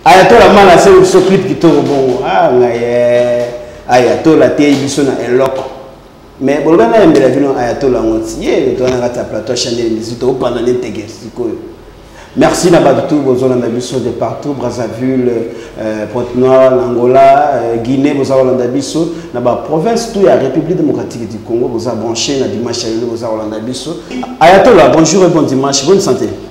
ayatola mala se biso clip kitoko bongo ah ngaye ayatola te biso na eloko mais boloba na yembela bino ayatola yango ti ye towana kati ya plateau chanel misi tokopanda ne teke sikoyo merci na bato tout bozolanda biso de partout brazzaville euh, pointe noire na angola euh, guinée boza kolanda biso na baprovince tout ya république démocratique du congo boza branché na dimanche ya lelo boza kolanda biso ayatola bonjour et bon dimanche bonne santé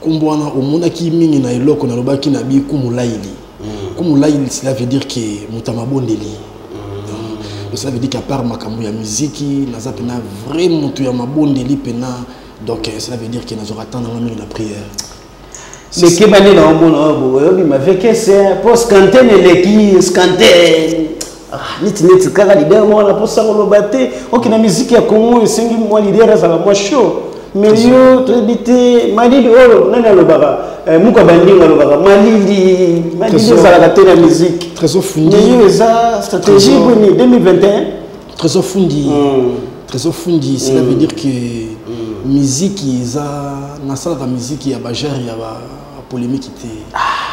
nkombo wana omonaki mingi na eloko nalobaki na bi kumulaili mm. kumulaili cela veut dire ke moto ya mabondeli mm. cela veut dire ke apart makambo ya miziki naza mpena vrai moto ya mabondeli mpena donc euh, cela veut dire ke nazwaka temps nanga mingi na prière lekebani na omona oyo boyobima vekese mpo scanten eleki scanten Ah, neti neti kaka leader moko na mposa koloba te oke na miziki ya congo oyo esengi mwa leader azala mwa show mais yo toyebi te malili oyo nani alobaka eh, muka bandinga alobaka malili malili ezalaka te na miziki yo eza stratégie boni 2021 trésor fundi hmm. trésor fundi cela hmm. veut dire que hmm. miziki eza nasalaka miziki ya bajare ya ba ah, polemique te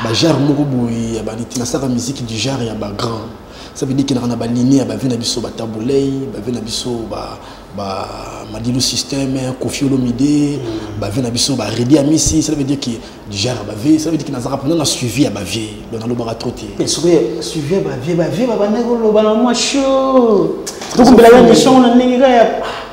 ba genre moko boye ya ba nasaka musique du genre ya ba grand ça veut dire qu'il y a na ba ligne ya ba vie na biso ba tabulei ba vie na biso ba ba madilu système kofi olomide mm. ba vie na biso ba redi amisi ça veut dire que du genre ba vie ça veut dire que nazaka pendant na suivi ya ba vie donc na lobaka trop te mais soki suivi ba vie ba vie ba bande ko loba na moi chaud donc mbela ya mission na ndenge ya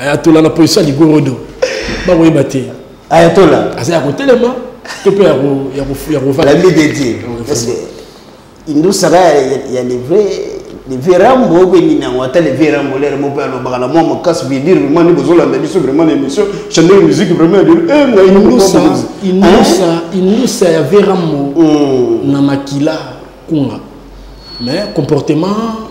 ayatola na position ya ligorodo bakoyeba te ayatola aza ya kotelema to mpe ya kovandami dedie indusaka ya livre livre rambo obengi nango ata livre rambo lere mo mpe alobaka na mwa makasi vidire vraimen nde bozolanda biso vraimen na émission chandel musique vraimen indusa ya ve rambo hmm. na makila kunga mais comportement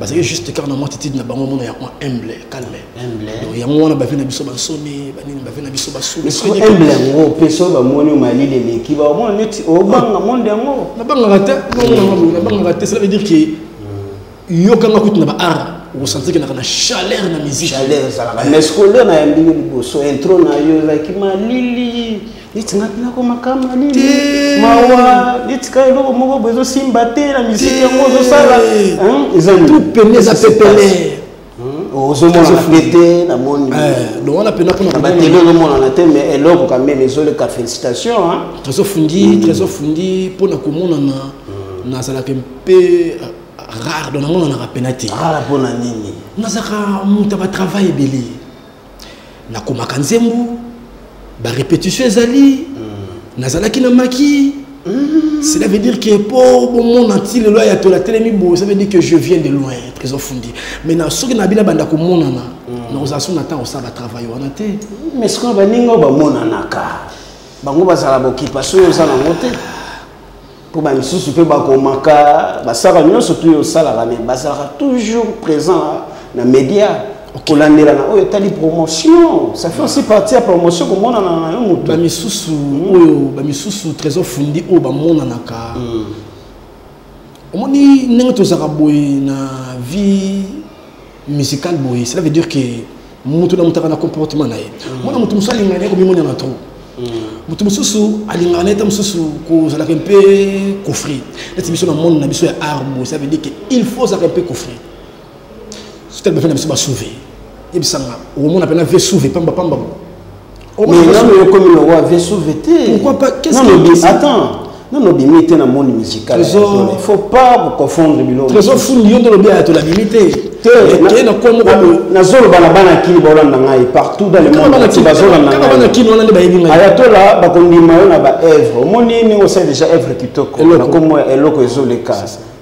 bazali juste kaka na mwa titide na bango mona yango humble calme donc yango wana bavi na biso bansoni banini bavi na biso basuhumble yango mpe soki bamoni malili eleki bamona neti obanga oh, monde yango nabangaka te nabangaka te cela veut dire ke yokanga kutu na baart okosanti kenaka na chaleur na musique mais scolaire na ya ndenge liboso intro na yo ezalaki malili neti nga mpenako makama nini mawa neti ka eloko moko bo ezosimba te na misiki yango ozosala ezapene eza pepele ozomona mpe te namoni wana mpena mponabatele ozomonana te mais eloko kameme ezoleka félicitation trésor fundi mm. trésor fundi mpo na komonana mm. nazalaka mpe rare donc nango nanaka mpena te rare mpo na nini nazalaka moto ya batravail ebele nakomaka nzembo barépétition ezali mm. nazalaki na maki mm. cela veut dire que mpo bomona nti lelo ya tola telemi boye ça veut dire que je viens de loin trésor fundi mais na soki na bina banda komonana mm. nakozala so na ntango osala batravail wana te mais sikoyo baninga oyo bamonanaka bango bazala bokipa soki oza nango te mpo bamisusu mpe bakomaka basalaka nyonso tu osalaka me bazalaka toujours présent na média kolandela na oyo etali promotion ça fait aussi partie ya promotion komonana na yo moto bamisusu hmm. oyo bamisusu trésor fundi oyo bamonanaka hmm. omoni ndenge tozalaka boye na vie musical boye cela veut dire que moto na moto aka na comportement na ye mm. mwana moto mosusu alingaka ye komimonana trop mm. moto mosusu alingaka na ye ta mosusu kozalaka mpe kofri neti biso na monde na biso ya art boye cela veut dire que il faut ozalaka mpe kofri soki tali bafai na biso basouve yebisanga okomona mpe na vie souve pamba pamba boye mais nga me okomi na wa vie sauve te pourquoi pas qu'est-ce que attends non non bimi te na monde musical il faut pas ko confondre bilo trésor fund yo ndolo bien to la bimi te te te na ko mo ko na zolo bana bana ki ba olanda ngai partout dans le monde ti ba zolo na bana ki no lande ba yebi ngai aya to la ba ko ndima yo na ba œuvre moni ni o sait déjà œuvre kitoko na ko mo eloko ezoleka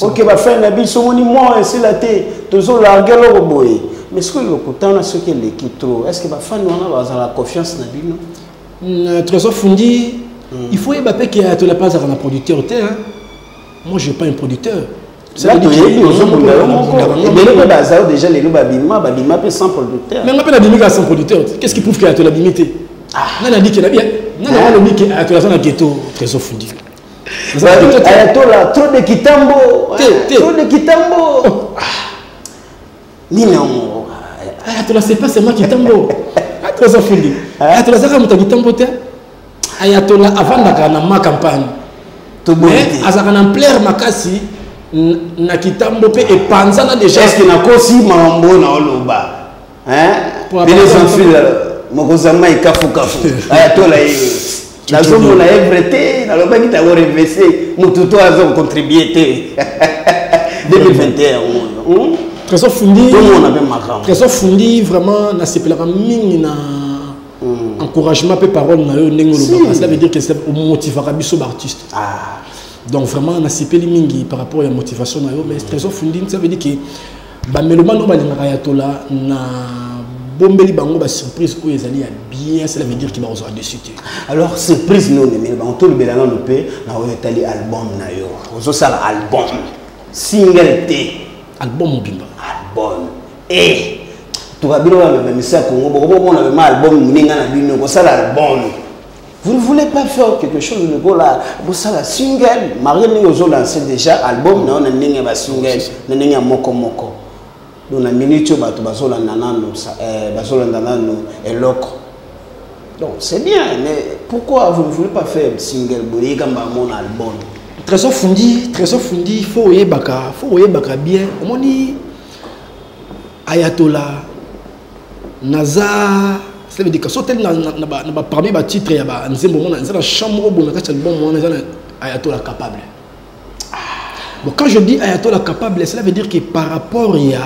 oke bafani na biso omoni mwa esila te tozolarge eloko boye mais soki lokutana soki eleki trop est ce que bafani wana bazala confiance na bino euh, trésor fundi hmm. il faut yeba mpe ke ayatola mpe azalaka na producteur te moi je pas un producteur toyebi ozobunda yo moko ebele mpe baza yo déjà lelo babima babima mpe sans producteur nanga mpe nabimi kaka sans producteur te qu'est ce qui prouve ke ayatola bimi te ah. nga nabikela bien nga nanga nabike ayatola aza na ghetto trésor fundi ayatola trop de kitambo trop de kitambo oh. ah. nini yango ayatola c'est pas seulement kitambo ayatola eza fili ayatola azaka moto ya kitambo te ayatola avandaka na ma campagne mais azalaka na ampleur makasi na kitambo mpe epanzana déjà eske nakosi mambo na oloba hein bino sans fil mokoza mai kafu kafu aya tola ye nazomona ye vrai te nalobaki tango revese motu to azo contribue te 2021 yango oyo trésor fundi tomona mpe makambo trésor fundi vraiment nasepelaka mingi na hmm. encouragement mpe parole na yo ndenge olobaka cela veut dire que omotivaka biso baartiste ah. donc vraiment nasepeli mingi par rapport ya motivation na yo mais trésor fundi ça veut dire que bamelomane oyo balingaka ya tola na bombeli bango ba surprise oyo ezali ya bien cela veut dire ki bakozwa dessus te alors surprise nde omemeli bango tolobela nano mpe na oyo etali album na yo ozosala album single te album mobimba album e eh, tuka bino bamemisa ya kongo bokomona mema album moninga na bino kosala album Vous ne voulez pas faire quelque chose de gola bosala single marie ndenge ozolanse déjà album na yo na ndenge ya basingle na ndenge ya moko moko donc na minute oyo bato bazolanda nano eh, bazolanda nano eloko donc c'est bien mais pourquoi vous ne voulez pas faire single boyeka mbango na album trésor fundi trésor fundi fo oyebaka fo oyebaka bien omoni ayatola naza cela veut dire que soki oteli na parmi batitre ya banzembo mona eza na champ moko boye na kati ya libomo wana eza na ayatola capable ah. bon quand je dis ayatola capable cela veut dire que par rapport ya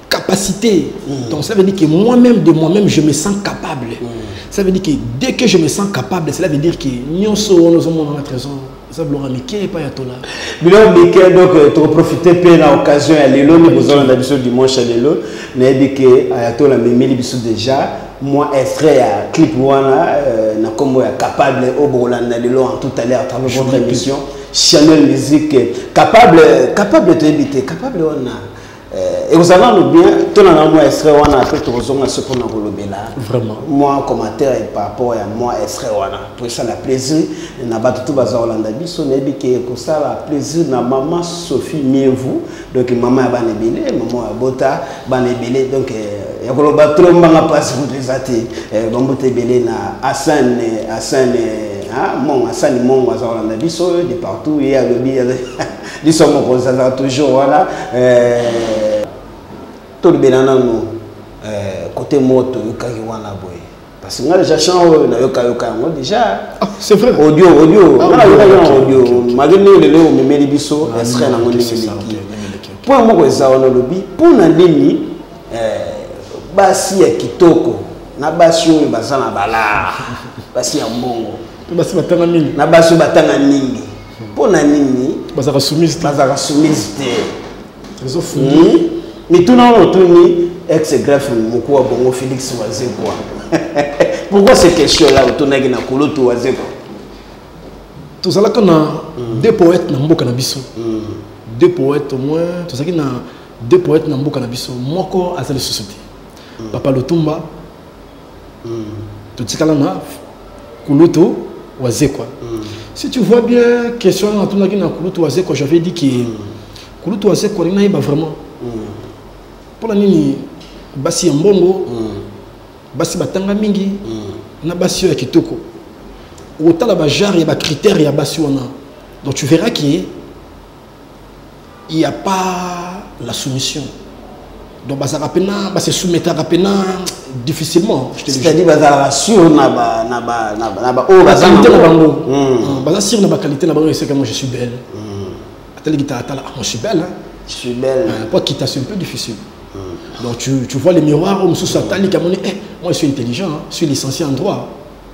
capacité mm. donc cela veut dire que moi-même de moi-même je me sens capable mm. cela veut dire que dès que je me sens capable cela veut dire que nyonso wana ozomona na trésor eza biloko ya mike epai ya tola biloko mike donc euh, tokoprofite mpe na occasion ya lelo nde bozolanda biso dimanche ya lelo nayebi ke ayatola amemeli biso déjà mwa extrait ya clip wana euh, na nkombo ya capable oyo bokolanda lelo en tout à l'heure à travers votre émission chanel musique capable capable toyebi te capable wana Eh, ekozala nano bien tona na mwa extrait wana apre tokozonga so mpona kolobela mwa commentaire par rapport ya mwa extrait wana mpo esala plaisir na bato to baza kolanda biso nayebi ke ekosala plaisir na mama sophie mievu donc mama ya bana ebele mama ya bota bana ebele donc eh, ya koloba tro mbanga mpasi kutu eza te eh, bambuta ebele na asane asane ah, mongo asani mongo aza kolanda biso de partout ye alobi liso ya mokonzi azala toujours wana eh, tolobela nanu eh, kote moto oyokaki wana boye parce que nga déjà chant oyo nayokayoka yango déjà ah, c'est vrai audio audio ah, nga nayoka yango audio malgré ndenge lelo omemeli biso ah, esre nango ndenge eleki mpo moko eza wana olobi mpo na nini eh, basi ya kitoko na basi oyo baza na balaa basi ya mbongo na basi batanga mingi mpo na nini bazalaka soumise te bazalaka soumise te ezofundi hmm? mituna oyo otuni ex grafe moko wa bongo félix wazekwa pourquoi ces questions là otunaki na kulutu wazekwa tozalaka na hmm. deux poètes na mboka na biso hmm. deux poètes au moins tozalaki na deux poètes na mboka na biso moko aza lisusu te papa lotumba totikala na kulutu wazekwa mm. si tu vois bien question wana natunaki na kulutu wazekwa j'avais dit que mm. kulutu wazekwa alingi nayeba vraiment mpona mm. nini basi ya mbongo mm. basi batanga mingi mm. na basi oyo ya kitoko okotala bajare ya bacritère ya basi wana donc tu verras que il y a pas la soumission donc bazalaka mpe na base soumettaka mpe na difficilement c'est-à-dire bazalaka sur na baoyo baqualité na bango baza sur na baqualité na bango eseka moi je suis belle hmm. atali kitalatala ah, moi je suis belle je suis belle euh, po kita c'est un peu difficile hmm. donc tu, tu vois les miroirs oyo mosusu atali kamoni eh, moi je suis intelligent je suis licencié en droit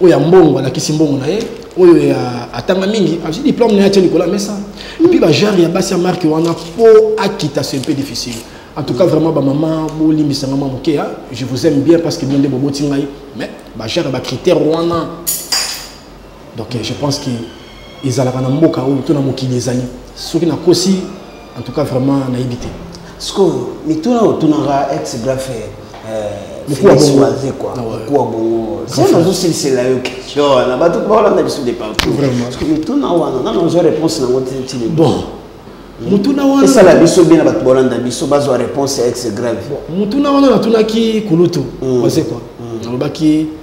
oyo ya mbongo alakisi mbongo na ye oyo ya atanga mingi azwi diplome na ye atie likolo ya mesa epuis bajare ya basi ya marke wana mpo akita se mpe difficile en tout cas vraiment bamama bolimbisa nga mwa moke ya je vous aime bien parce que bino nde boboti ngai mais bajare ya bacritère wana donc je pense que ezalaka na mboka oyo to na mokili ezali soki nakosi en tout cas vraiment nayebi te sikoyo mituna oyo otunaka ex grafe mokuwa bongo zena azosilisela yo question wana bato baolanda biso de partout mituna wana nana ozwa réponse nango tili bon mutuna wana esala biso bien na bato bolanda biso bazwa réponse ya ex grave mutuna wana natunaki kulutu mm. wazekwa mm. nalobaki mm.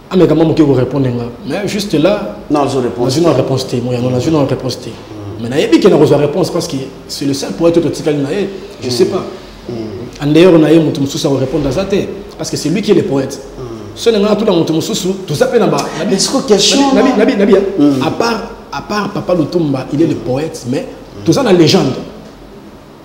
ameka mwa moke korépondre nga mais juste là nazwi na réponse te moyano nazwi na réponse te mm. mais nayebi ke nakozwa réponse parce que c'est le seul poète oyo totikali na ye je sais mm. pas mm. en dehors na ye moto mosusu akorépondre aza te parce que c'est lui qui est le poète so na ngai tuna moto mosusu toza mpe na ba à part à part papa lutumba il est le poète mais toza na légende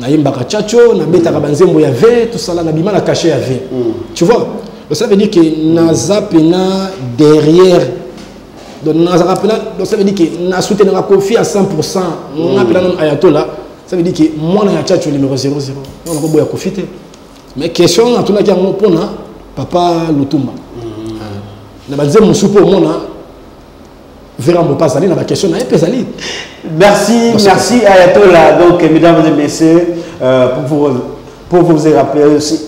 nayembaka chacho nabetaka banzembo ya ve tosala nabima na kashe ya ve mm. tu vois ça veut dire que naza mpena derrière donc nazaka mpena donc ça veut dire que nasoutenaka kofi à 100 pourcent mm. nga mpena nano ayatola ça veut dire que mwana ya chacho numéro 00 wana koboya kofi te mais question natunaki yango mpona papa lutumba mm. ah. na banzembo mosusu mpo omona Vera Mbopa azali na ba question na ye mpe ezali. Merci, Bonsoir. merci Ayatollah. Donc, mesdames et messieurs, euh, pour vous pour vous rappeler aussi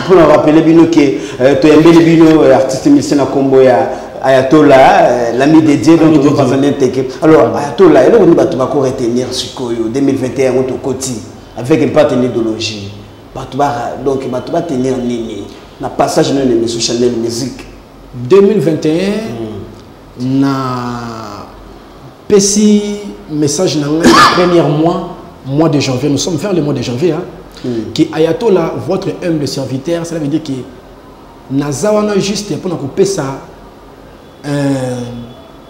pour nous rappeler bino que euh, tu aimes bino euh, artiste musicien na combo ya Ayatollah euh, l'ami de Dieu donc tu vas en intégrer. Alors mm. Ayatollah, eloko ni bato bako retenir sikoyo 2021 on to koti avec une certaine idéologie. Bato ba donc bato ba tenir nini na passage na émission Chanel musique 2021 mm. Na pesi message na ngai na première mois mois de janvier nous sommes vers le mois de janvier hein, mm. que ayatola votre humble serviteur cela veut dire que naza wana juste mpona kopesa euh,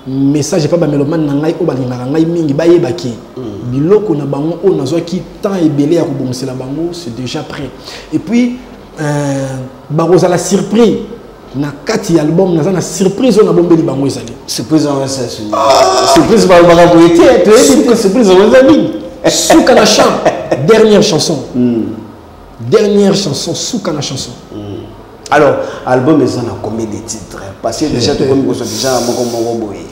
message epai bamelomane na ngai oyo balingaka ngai mingi bayebaki mm. biloko na bango oyo nazwaki temps ebele ya kobongisela bango c'est déjà prêt et puis euh, bakozala surpris na kati ya album naza na surprise oyo nabombeli bango ezali surprise yango esa suni ah! surprise balobaka boye te toyebi te surprise yango eza nini suka na chant dernière chanson hmm. dernière chanson suka na chanson hmm. alors album eza na combien de titres parce que déjà tokomi kosa déjà moko moko boye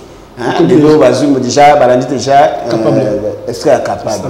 lelo bazwi déjà balandi déjà euh, est ce que capable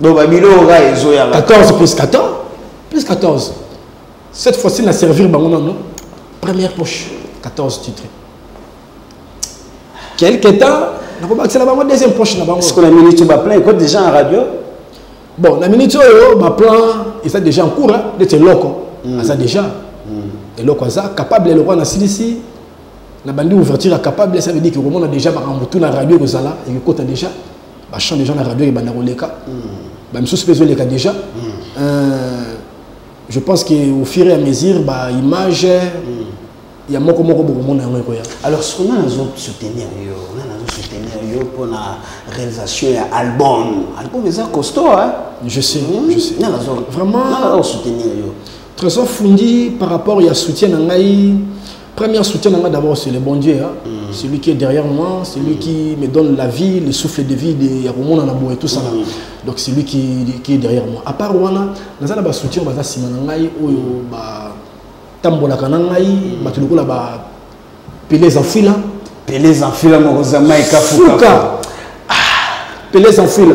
Donc babilo oka ezo ya 14 plus 14 plus 14. Cette fois-ci na servir bango non première poche 14 titres. Quelque temps nakobakisela bango deuxième poche na bango. Est-ce que la minute ba plein quoi déjà en radio? Bon, la minute oyo ba plan et ça déjà en cours hein, de loko. Mm. Ça déjà. Mm. Et loko ça capable le roi na silisi na bandi ouverture capable ça veut dire que on a déjà ba tout na radio kozala et que déjà ba chant déjà na radio et banda koleka hmm. ba misusu pezo leka déjà hmm. euh, je pense que au fur et à mesure ba image hmm. ya moko moko boko mona yango ekoya alors ce qu'on a nazo soutenir yo on a nazo soutenir yo pour la réalisation ya album album eza costaud hein je sais mmh. je sais na nazo vraiment na nazo soutenir yo très souvent fundi par rapport ya soutien na ngai Premier soutien nanga d'abord c'est le bon Dieu hein? mm. celui qui est derrière moi celui mm. qui me donne la vie le souffle de vie de ya komona na boye tout ça là mm. donc celui qui qui est derrière moi à part wana naza na ba soutien baza sima na ngai oyo ba tambolaka na ngai mm. bato lokola ba Pelez en fila Pelez en fila moko za Mike Fuka ah, Pelez en fila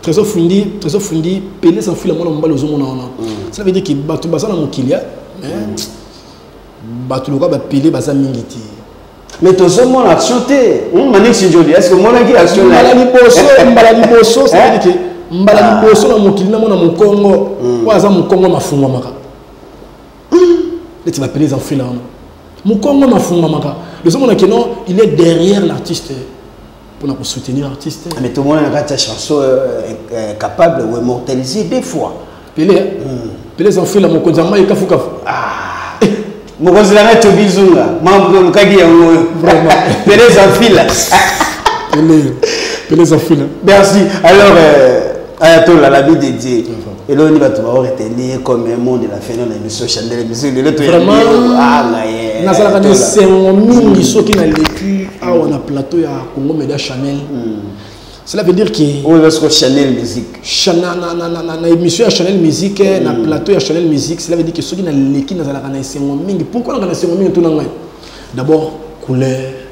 Trésor Fundi, Trésor Fundi, Pelé sans fil à mon emballage au monde. Ça veut dire que Batou Bazana Mokilia, mais Batou Loka va Pelé Bazan Mingiti. Mais tout ce monde a chanté. Hum, Manik Sinjoli, est-ce que mon ami a chanté Mbala Liboso, Mbala Liboso, ça veut dire que Mbala ah. Liboso, na Mokili, na Mona Mokongo, ou Azan Mokongo, ma Funga Maka. Hum. Et tu vas Pelé sans fil à mon. Mokongo, ma Funga Maka. Le monde a que non, il est derrière l'artiste. pona ko soutenir artiste mais to mona na kati ya chanson euh, euh, euh, capable ou immortaliser deux fois pele hmm. pele za fela mokonzi mai kafu kafu ah mokonzi na to bizunga mambo de mukadi ya ngoyo vraiment pele za fila pele pele za fila merci alors euh, ayatola la vie de Dieu eloni bato bao retenir ye comme un monde la feno na émission chandele biso lelo toyangaye nazalaka na esengo mingi soki naleki awa na plateau ya congo media chanel cela veut dire que oyo ezasoko chanel musique na émission ya chanel musique na plateau ya chanel musique cela veut dire que soki naleki nazalaka na esengo mingi pourkoi naka na esengo mingi tuna ngai d'abord couleur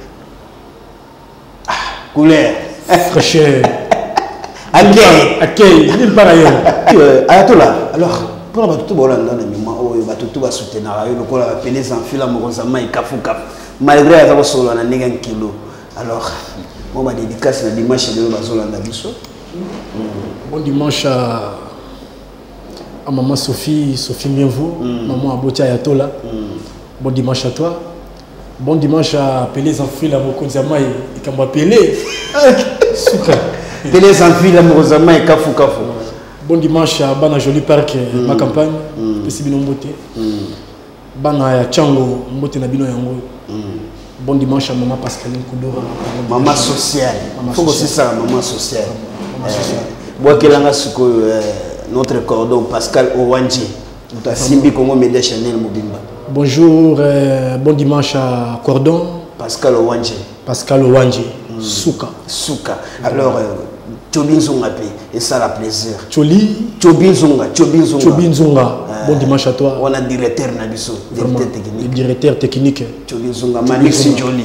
ah, couleur fraîcheur akei akei nini mpa na yo euh, ayatola alors mpona bato to baolanda na mima oyo bato to basoutenaka yo lokola bapele zanfila mokonzi ya mai kafukafu malgré aza kosolola na ndenge ya nkilo alors mo badedikasi na dimanche lelo bazolanda biso bon dimanche à maman Sophie, Sophie Mienvou, mm. maman Abotia Ayatola. Mm. Bon dimanche à toi. Bon dimanche à Pelé Zanfila, mokonzi ya mai, likambo ya Pelé. Suka. Pelé Zanfila, mokonzi ya mai, kafu kafu. Bon dimanche à Bana Jolie Park, euh, mm. ma campagne, mm. pesi bino mbote. Mm. Bana ya Chango, mbote na bino yango. Mm. Bon dimanche à Maman Pascaline Koudora. Maman sociale. Faut que c'est ça, maman sociale. Maman sociale. Euh, Boakelanga sikoyo euh, notre cordon Pascal Owanji. moto asimbi congo media chanel mobimba bonjour euh, bon dimanche à cordon pascal owanje pascal owanje mm. suka suka alors euh, cobi nzonga mpe esala plaisir coli cobi nzonga cobi nzonga cobi nzonga ah. bon dimanche à toi wana directeur na biso directeur technique directeur technique cobi nzonga malexi joli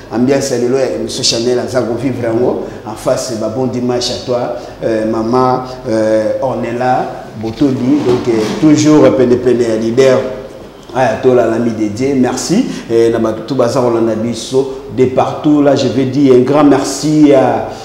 ambiance ya lelo ya emission chanel aza kovivre yango en face ba bon dimanche à toi euh, mama euh, ornela botoli donc euh, toujours penepene ya leader aya tolala midedie merci eh, na bato to baza kolanda biso de partout là je vais dire un grand merci à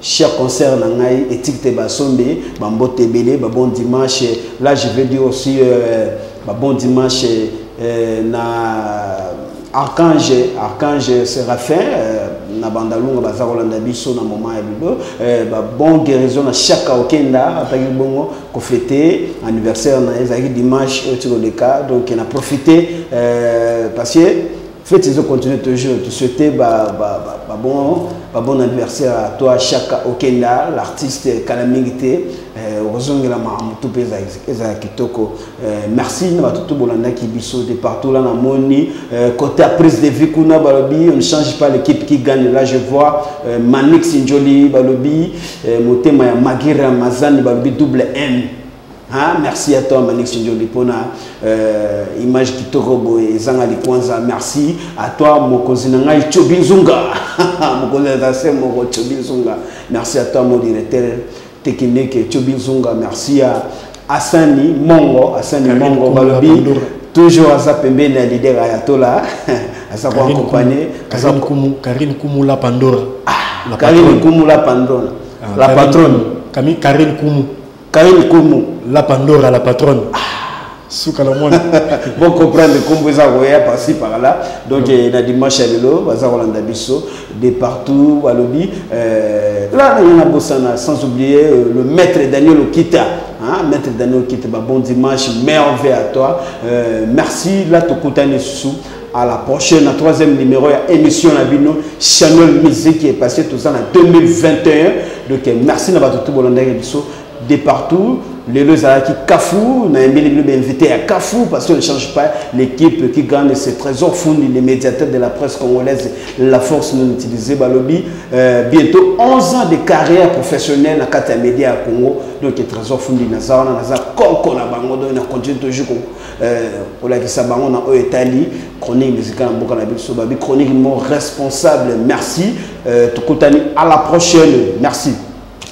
Cher concert na ngai etiki te basombe bambote ebele ba bon dimanche là je veux dire aussi euh, ba bon dimanche euh, na archange archange séraphin euh, na bandalunga baza kolanda biso na moment ya bibo euh, ba bon guérison na chaque okenda ataki bongo kofete anniversaire na ye ezalaki dimanche oyo ti koleka donc na profite euh, parce que Faites ezo continuer toujours tu souhaiter ba ba ba, ba bon ba bon anniversaire à toi Shaka Okenda l'artiste kala mingi te euh, ozongela makambo tout pe eza kitoko euh, merci na bato tout bolandaki biso de partout là na moni euh, côté prise de vie kuna balobi on ne change pas l'équipe qui gagne là je vois Manix Njoli balobi motema ya Magira Mazani balobi double M Hein? Merci à toi Manix Ndjoli pona euh, image kitoko boye ezanga likwanza. Merci à toi mokonzi na ngai Chobi Nzunga. mokonzi na se moko Chobi Nzunga. Merci à toi mon directeur technique Chobi Nzunga. Merci à Asani Mongo, Asani Karine Mongo balobi toujours aza pembeni ya leader Ayatollah. aza ko accompagner Karine Kumu Karine Kumu la Pandora. Ah, Karine Kumu la Pandora. Ah, la patronne. Karine Kumu. Karine Komo. La Pandora, la patronne. Ah. suka na mwana bocomprendre nkombo eza koya parci par là donc eh, na dimanche ya lelo baza kolanda biso de partout balobi eh, la naye na bosana sans oublier euh, le maître daniel okita Hein, maître Daniel Kiteba, bon dimanche, merveille à toi. Euh, merci, là, tu à la prochaine na troisième numéro ya émission na bino chanel musique epasse toza na 2021 donc merci na bato to bolandaki biso de partout lelo ezalaki kafou nayembeli bino bainvité ya kafou parce qu'on ne change pas l'équipe qui gagne ce trésor fundi le médiateur de la presse congolaise la force non utilisée balobi euh, bientôt 11 ans de carrière professionnelle na kati ya média ya congo donc trésor fundi naza wana naza koko na bango donc na continue toujours euh, olakisa bango na oyo etali chronique musicale ya mboka na biso babi chronique mo responsable merci euh, tokutani à la prochaine merci